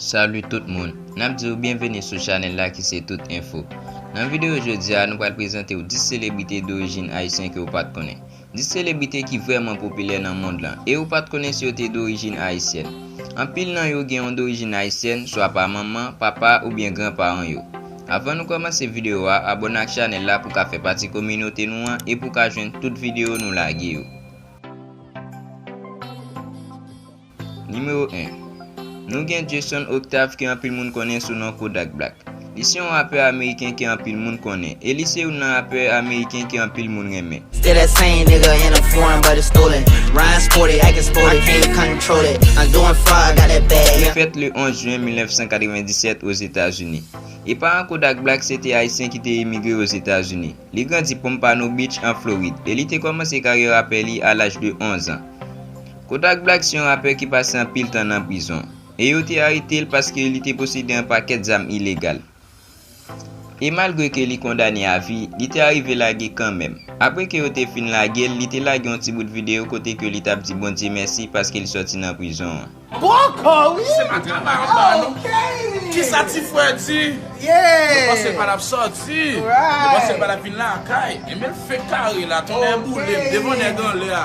Salut tout moun, nap diw byenveni sou chanèl la ki se tout enfo. Nan videyo jodi a nou pral prezantew 10 selebrite dorijin ayisyen ke ou pat konnen. 10 selebrite ki vrèman popilè nan mond lan e ou pat konnen si yo te dorijin ayisyèn. Anpil nan yo gen yon dorijin ayisyèn swa pa manman, papa oubyen gran paran yo. Avan nou kòmanse videyo a abòne ak chanèl la pou ka fè pati kominote nou an e pou ka jwenn tout videyo nou lage yo. Nimewo 1, Nou gen Jason Octave ke anpil moun konnen sou non Kodak Black. Li se yon rapè ameriken ke anpil moun konnen, e li se youn nan rapè ameriken ke anpil moun renmen. Still that same nigga in a foreign but it's stolen Ryan sporty, acting sporty, can't control it I'm doing fine, got that bag, yeah Li fèt le 11 jen 1997 Ozetazini. E paran Kodak Black se te Ayisyen ki te emigre Ozetazini. Li grandi Pompano Beach an Florid, e li te kòmanse karyè rapè li a laj de 11 an. Kodak Black se yon rapè ki pase anpil tan nan prizon, e yo te arete l paske li te posede yon pakèt zam ilegal. E malgre ke li kondane a vi, li te arive lage kanmenm. Apre ke yo te fin lage l, li te lage yon ti bout videyo kote ke li t ap di Bondye mèsi paske li sòti nan prizon an. Bòkò wi! Se pa travay anba non. Kisa ti frè di? Yo panse l pa tap sòti. Yo panse l pa tap vin lakay. Enben l fenk kare la. Tonnè boule m devan nèg anlè a.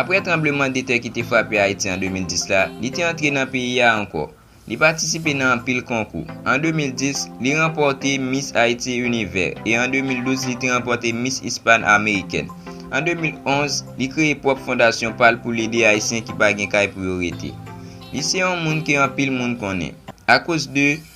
Aprè tranbleman de tè ki te frape Ayiti an 2010 la, li te antre nan peyi a ankò. Li patisipe nan anpil konkou. An 2010, li ranpòte Miss Haiti Univers e an 2012 li te ranpòte Miss Hispan American. An 2011, li kreye pwòp fondasyon pa l pou l ede Ayisyen ki pa gen kay pou yo rete. Li se yon moun ke anpil moun konnen akoz de.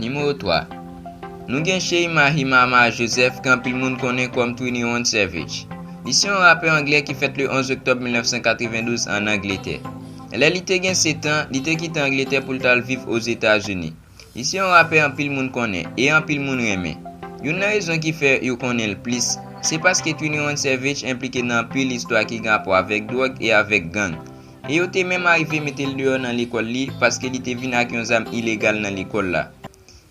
Nimewo 3, Nou gen Chey Mahimama Joseph ke anpil moun konnen kòm 21 Savage. Li se yon rapè anglè ki fèt le 11 oktòb 1992 ann Angletè. Lè li te gen 7 an, li te kite Angletè pou l t al viv Ozetazini. Li se yon rapè anpil moun konnen e anpil moun renmen. Youn nan rezon ki fè yo konnen l plis, se paske 21 Savage enplike nan anpil istwa ki gen rapò avèk dwòg e avèk gang. e yo te menm arive mete l deyò nan lekòl li paske li te vin ak yon zam ilegal nan lekòl la.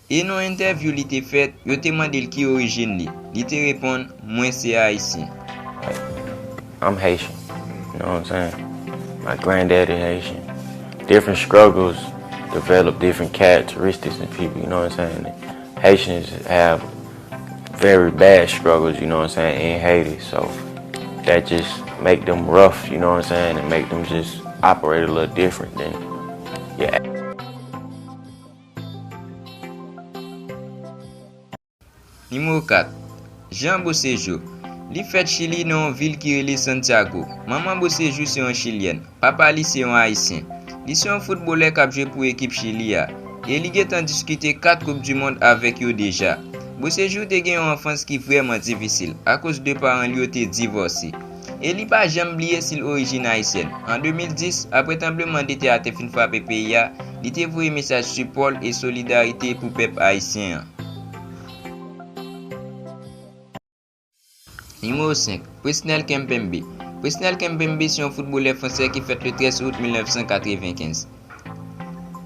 E nan yon entèvyou li te fèt, yo te mande l ki orijin li, li te reponn, Mwen se Ayisyen. I'm Haitian, you know what I'm saying? My granddaddy Haitian. Different struggles develop different characteristics in people, you know what I'm saying? Haitians have Very bad struggles you know what I'm saying in Haiti so that just make them rough you know what I'm saying and make them just operate a little different than your Nimewo 4, Jean Bocejo. Li fèt Chili nan yon vil ki rele Santiago. Manman Bocejo se yon chilyèn. Papa li se yon Ayisyen. Li se yon foutbolè k ap jwe pou ekip Chili a, e li gentan diskite 4 koup du mond avèk yo deja. Beauséjour te gen yon anfans ki vrèman difisil akoz 2 paran l yo te divòse. E li pa janm bliye si l orijin ayisyèn. An 2010, apre tranbleman de tè a te fin frape peyi a, li te voye mesaj sipò l e solidarite pou pèp ayisyen an. Nimewo 5, Presnel Kimpembe Presnel Kimpembe se yon foutbolè fransè ki fèt le 13 out 1995.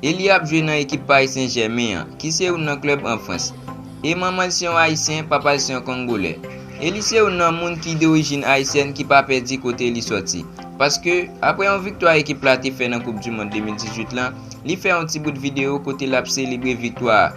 E li ap jwe nan ekip Paris Saint-Germain an, ki se youn nan klèb an Frans. E manman l se yon Ayisyen, papa l se yon Kongolè. E li se youn nan moun ki dorijin Ayisyèn ki pa pè di kote li sòti. Paske, apre yon viktwa ekip la te fè nan Koup Dimond 2018 lan, li fè yon ti bout videyo kote l ap selebre viktwa a,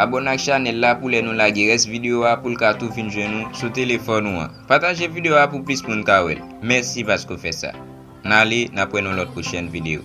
Abòne ak chanèl la pou lè nou lage rès video a poul ka tou vin jwenn ou sou telefòn ou an. Pataje video a pou plis moun ka wèl. Mèsi paske w fè sa. Nale, nap wè nou lòt pwochèn video.